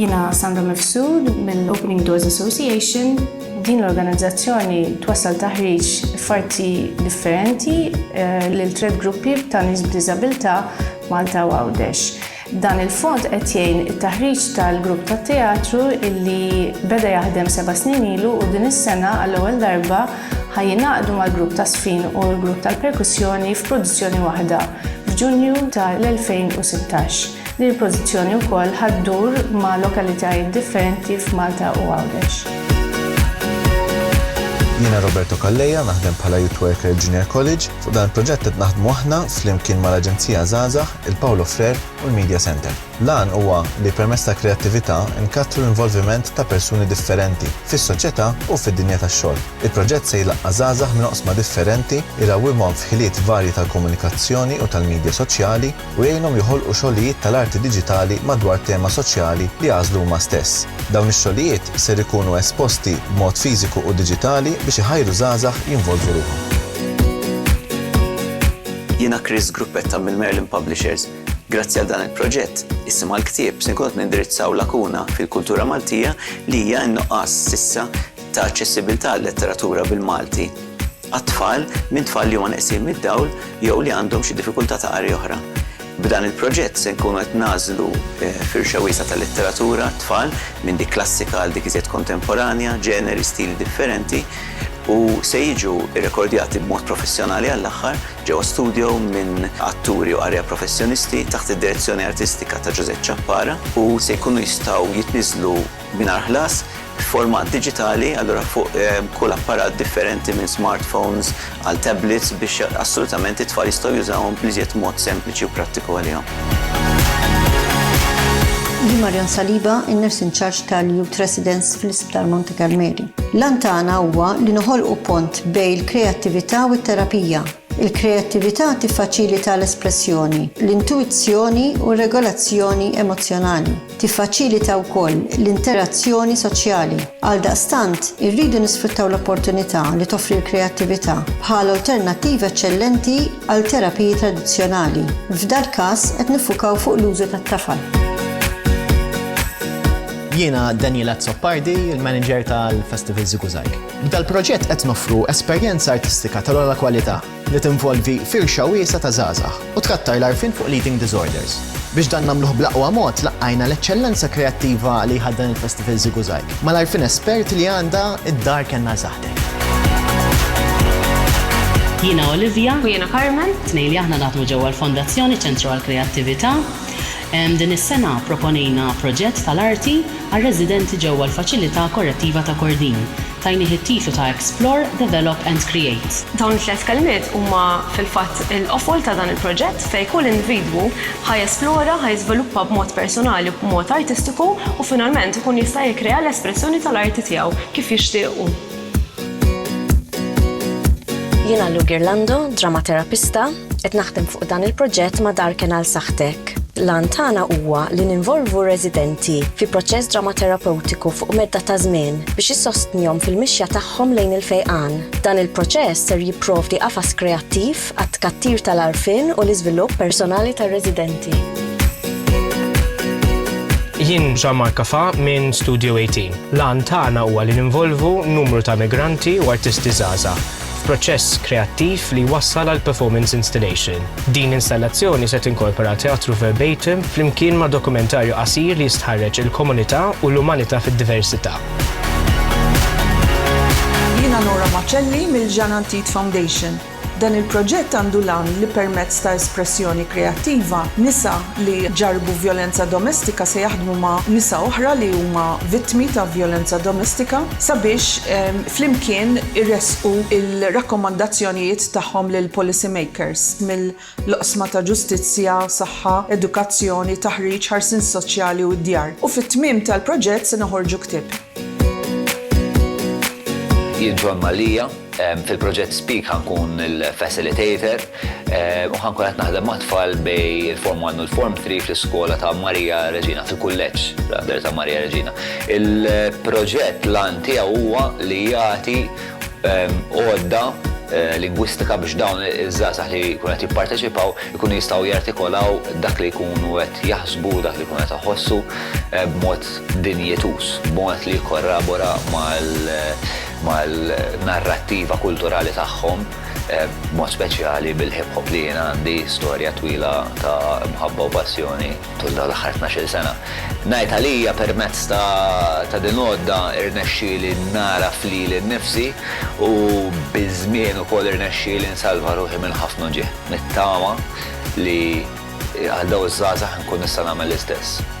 Jiena Sandra Mifsud mill-Opening Doors Association. Din l-organizzazzjoni twassal taħriġ f'arti differenti eh, lil tred gruppi ta' nies b'diżabilità Malta u Għawdex. Dan il-fond qed jgħin it-taħriġ tal-grupp tat-teatru illi beda jaħdem seba' snin ilu u din is-sena għall-ewwel darba ħajjinaqdu mal-grupp ta' sfin u l-grupp tal-perkussjoni f'produzzjoni waħda. f'Ġunju ta' l-2016. Din il-pożizzjoni wkoll ħa ddur ma' lokalitajiet differenti f'Malta u Għawdex. Jiena Roberto Calleja, naħdem bħala Youth Worker f'Junior College. Fuq dan il-proġett qed naħdmu aħna flimkien mal-Aġenzija Żgħażagħ, il-Paulo Freire u l-Media Centre. L-għan huwa li permezz tal-kreattività nkattru l-involviment ta' persuni differenti fis-soċjetà u fid-dinja tax-xogħol. Il-proġett se jlaqqa' żgħażagħ minn oqsma differenti, irawwimhom f'ħiliet varji tal-komunikazzjoni u tal-midja soċjali, u jgħinhom joħolqu xogħlijiet tal-arti diġitali madwar tema soċjali li għażlu huma stess. Dawn ix-xogħlijiet ser ikunu esposti b'mod fiżiku u diġitali biex iħajru żgħażagħ jinvolvu ruħhom. Jiena Chris Gruppetta mill-Merlin Publishers. Grazzi għal dan il-proġett, issa mal-ktieb se nkunu qed nindirizzaw lakuna fil-kultura Maltija li hija n-nuqqas s'issa ta' aċċessibbiltà għal-letteratura bil-Malti għat-tfal minn tfal li huma neqsin mid-dawl jew li għandhom xi diffikultà ta' qari oħra. B'dan il-proġett se nkunu qed nagħżlu eh, firxa wiesgħa ta' letteratura tfal minn dik klassika għal dik iżjed kontemporanja, ġeneri, stili differenti, u se jiġu rrekordjati b'mod professjonali għall-aħħar ġewwa studjo minn atturi u qarrejja professjonisti taħt id-direzzjoni artistika ta' Ġużè Ciappara u se jkunu jistgħu jitniżżlu mingħajr ħlas f'format diġitali, allura fuq kull apparat differenti minn smartphones għal tablets biex assolutament it-tfal jistgħu jużawhom bl-iżjed mod sempliċi u prattiku għalihom. Hi Marion Saliba, in-Nurse in Charge tal-Youth Residence fl-Isptar Monte Karmeli. L-għan tagħna huwa li noħolqu pont bejn il-kreattività u t-terapija. Il-kreattività tiffaċilita l-espressjoni, l-intuwizzjoni u r-regolazzjoni emozzjonali. Tiffaċilita wkoll l-interazzjoni soċjali. Għaldaqstant, irridu nisfruttaw l-opportunità li toffri l-kreattività bħala alternattiva eċċellenti għal terapiji tradizzjonali. F'dal-każ qed niffukaw fuq l-użu tat-tafal. Jiena Daniel Azzopardi, il-Manager tal-Festival Ziguzag. B'dal-proġett qed noffru esperjenza artistika tal-ogħla kwalità. li tinvolvi firxa wiesgħa ta' żgħażagħ u tkattar l-għarfien fuq l-eating disorders. Biex dan nagħmluh bl-aqwa mod, laqqajna l-eċċellenza kreattiva li jħaddan il-Festival Żigużajg, mal-għarfien espert li għandha d-Dar Kenna Żaħteh. Jiena Olivia. U jiena Carmen. Tnejn li aħna naħdmu ġewwa l-Fondazzjoni Ċentru għall-Kreattività. Din is-sena pproponejna proġett tal-arti għar-residenti ġewwa l-Faċilità Korrettiva ta' Kordin. Tajnih it-titlu ta' Explore, Develop and Create. Dawn it-tliet kelmiet huma fil-fatt il-qofol ta' dan il-proġett fejn kull individwu ħa jesplora, ħa jiżviluppa b'mod personali u b'mod artistiku u finalment ikun jista' jikkrea l-espressjoni tal-arti tiegħu kif jixtieq hu. Jiena Lou Ghirlando, Dramaterapista. Qed naħdem fuq dan il-proġett ma' Darken għal Saħħtek. L-għan tagħna huwa li ninvolvu r-residenti fi proċess dramaterapeutiku fuq medda ta' żmien biex issostnihom fil-mixja tagħhom lejn il-fejqan. Dan il-proċess ser jipprovdi qafas kreattiv għat-tkattir tal-għarfien u l-iżvilupp personali tar-residenti. Jien Jean Marc Cafà minn Studio 18. L-għan tagħna huwa li ninvolvu numru ta' migranti u artisti żgħażagħ f'proċess kreattiv li jwassal għal performance installation. Din l-installazzjoni se tinkorpora teatru verbatim flimkien ma' dokumentarju qasir li jistħarreġ il-komunità u l-umanità fid-diversità. Jiena Nora Macelli mill-Jean Antit Foundation. Dan il-proġett għandu l-għan li permezz ta' espressjoni kreattiva, nisa li ġarrbu vjolenza domestika se jaħdmu ma' nisa oħra li huma vittmi ta' vjolenza domestika sabiex flimkien iressqu l-rakkomandazzjonijiet tagħhom lill-policy makers mill-oqsma ta' ġustizzja, saħħa, edukazzjoni, taħriġ, ħarsien soċjali u d-djar, u fit-tmiem tal-proġett se noħorġu ktieb. Jien John Mallia, fil-proġett Speak ħa nkun il-facilitator. u ħankun qed naħdem mat-tfal bejn il-Form 1 u l-Form 3 fl-iskola ta' Maria Reġina, fil-kulleġġ rather ta' Maria Reġina. Il-proġett l-għan tiegħu huwa li jagħti għodda lingwistika biex dawn iż-żgħażagħ li jkunu qed jipparteċipaw ikunu jistgħu jartikolaw dak li jkunu qed jaħsbu, dak li jkunu qed iħossu b'mod dinjituż, b'mod li jikkorrabora mal-narrattiva kulturali tagħhom. b'mod speċjali bil-hip hop li jien għandi storja twila ta' mħabba u passjoni tul dawn l-aħħar tnax-il sena. Ngħid għalija permezz ta' din l-għodda rnexxieli nagħraf lili nnifsi u biż-żmien ukoll irnexxieli nsalva ruħi minn ħafna uġigħ. Nittama li għal dawn iż-żgħażagħ inkun nista' nagħmel l-istess.